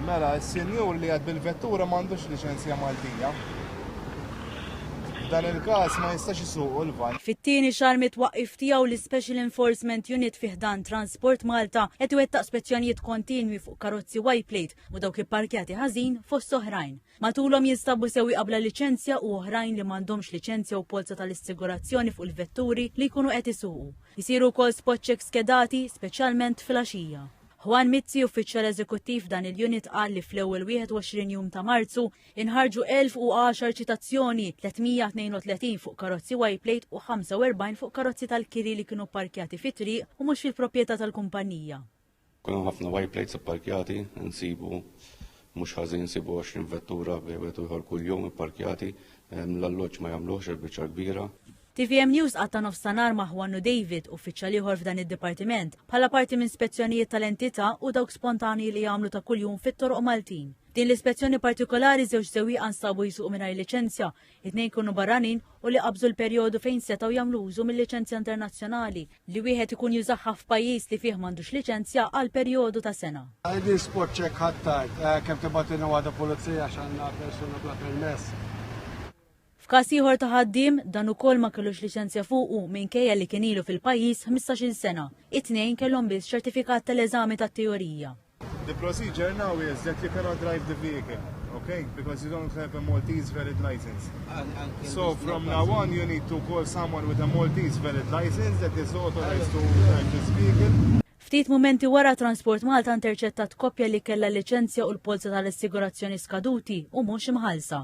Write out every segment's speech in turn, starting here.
Mela, s-senjur li għad bil-vettura m'għandux liċenzja Maltija. Dan il-każ ma jistax isuqu l-van. Fit-tieni xahar mit-twaqqif tiegħu l-Special Enforcement Unit fi ħdan Transport Malta qed iwettaq spezzjonijiet kontinwi fuq karozzi Y-plate u dawk ipparkjati ħażin fost oħrajn. Matulhom jinstabu sewwieqa qabla liċenzja u oħrajn li m'għandhomx liċenzja u polza tal-issigurazzjoni fuq il-vetturi li jkunu qed isuqu. Isiru wkoll spot check skedati, speċjalment filgħaxija. Juan Mizzi, uffiċjal eżekuttiv f'dan il-unit qal li fl-ewwel 21 jum ta' Marzu inħarġu 1,010 ċitazzjoni, 332 fuq karozzi Y-plate u 45 fuq karozzi tal-kiri li kienu pparkjati fit-triq u mhux fil-proprjetà tal-kumpannija. Kun hemm ħafna white plates ipparkjati, insibu mhux ħażin sibu 20 vettura bejwet u ieħor kuljum ipparkjati, ehm, l-alloġġ ma jagħmluhx il-biċċa l-kbira. TVM News qatta' nofs ta' nhar ma' Juannu David, uffiċjal ieħor f'dan id-dipartiment, bħala parti minn spezzjonijiet tal-entità u dawk spontanji li jagħmlu ta' kuljum fit-toroq Maltin. Din l-ispezzjoni partikolari żewġ sewwieqa nstabu jsuqu mingħajr liċenzja, it-tnejn jkunu barranin u li qabżu l-perjodu fejn setgħu jagħmlu użu mil-liċenzja internazzjonali, li wieħed ikun jużaha f'pajjiż li fih m'għandux liċenzja għal perjodu ta' sena. ID spot check ħadd tard, kemm tibgħatilna waħda pulizija għax għandna persuna bla permess. F'każ ieħor ta' ħaddiem, dan ukoll ma kellux liċenzja fuqu minkejja li kien ilu fil-pajjiż ħmistax-il sena, it-tnejn kellhom biss ċertifikat tal-eżami tat-teorija. The procedure now is that you cannot drive the vehicle, okay? Because you don't have a Maltese valid license. And, and so from now on, you need to call someone with a Maltese valid license that is authorized to drive this vehicle. Ftit momenti wara Transport Malta interċettat koppja li kella liċenzja u l-polza tal-assigurazzjoni skaduti u mhux imħalsa.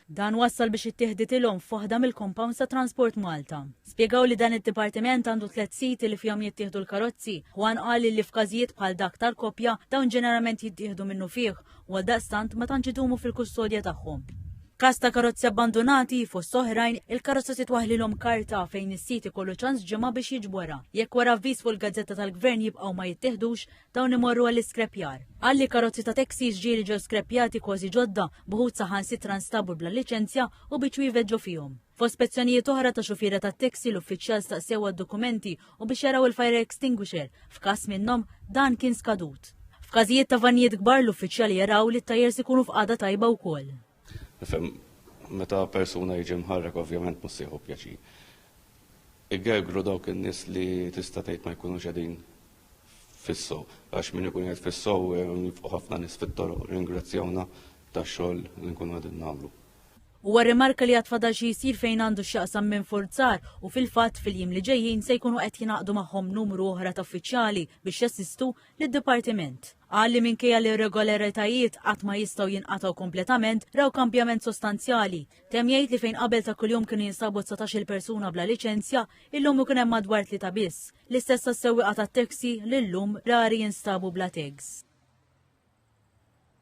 Dan wassal biex ittieħditilhom foħda mill-compounds ta' Transport Malta. Spjegaw li dan id-dipartiment għandu tliet siti li fihom jittieħdu l-karozzi. Juan qal li f'każijiet bħal dak tal-koppja dawn ġeneralment jittieħdu minnufih u għaldaqstant ma tantx idumu fil-kustodja tagħhom. F'każ ta' karozzi abbandunati, fost oħrajn, il-karozza titwaħħlilhom karta fejn is-sit ikollu ċans ġimgħa biex jiġborha. Jekk wara avviż fuq il-gazzetta tal-Gvern jibqgħu ma jittieħdux, dawn imorru għall-iskrepjar. Qal li karozzi ta' taxis ġieli ġew skrepjati kważi ġodda, b'uħud saħansitra nstabu bla liċenzja u biċ-ċwievet ġo fihom. Fost spezzjonijiet oħra ta' xufiera tat-taxi l-uffiċjal staqsew għad-dokumenti u biex jaraw il-fire extinguisher f'każ minnhom dan kien skadut. F'każijiet ta' vannijiet kbar l-uffiċjali jaraw li t-tajers ikunu f'qagħda tajba wkoll. Nifhem meta persuna jiġi mħarrek ovvjament mhux se jieħu pjaċir. Igergru dawk in-nies li tista' tgħid ma jkunux qegħdin fis-sew għax min ikun qed fis-sew jibqgħu ħafna nies fit-toroq ringrazzjawna tax-xogħol li nkunu qegħdin nagħmlu. Huwa rrimarka li għad fadal xi jsir fejn għandu x'jaqsam minfurzar u fil-fatt fil-jiem li ġejjin se jkunu qed jingħaqdu magħhom numru oħra ta' uffiċjali biex jassistu lid-Dipartiment. Qal li minkejja li r-regolaritajiet qatt ma jistgħu jinqatgħu kompletament, raw kambjament sostanzjali. Temm jgħid li fejn qabel ta' kuljum kienu jinsabu dsatax-il persuna bla liċenzja, illum ikun hemm madwar tlieta biss. L-istess għas-sewwieqa tat-taxi li llum rari jinstabu bla tags.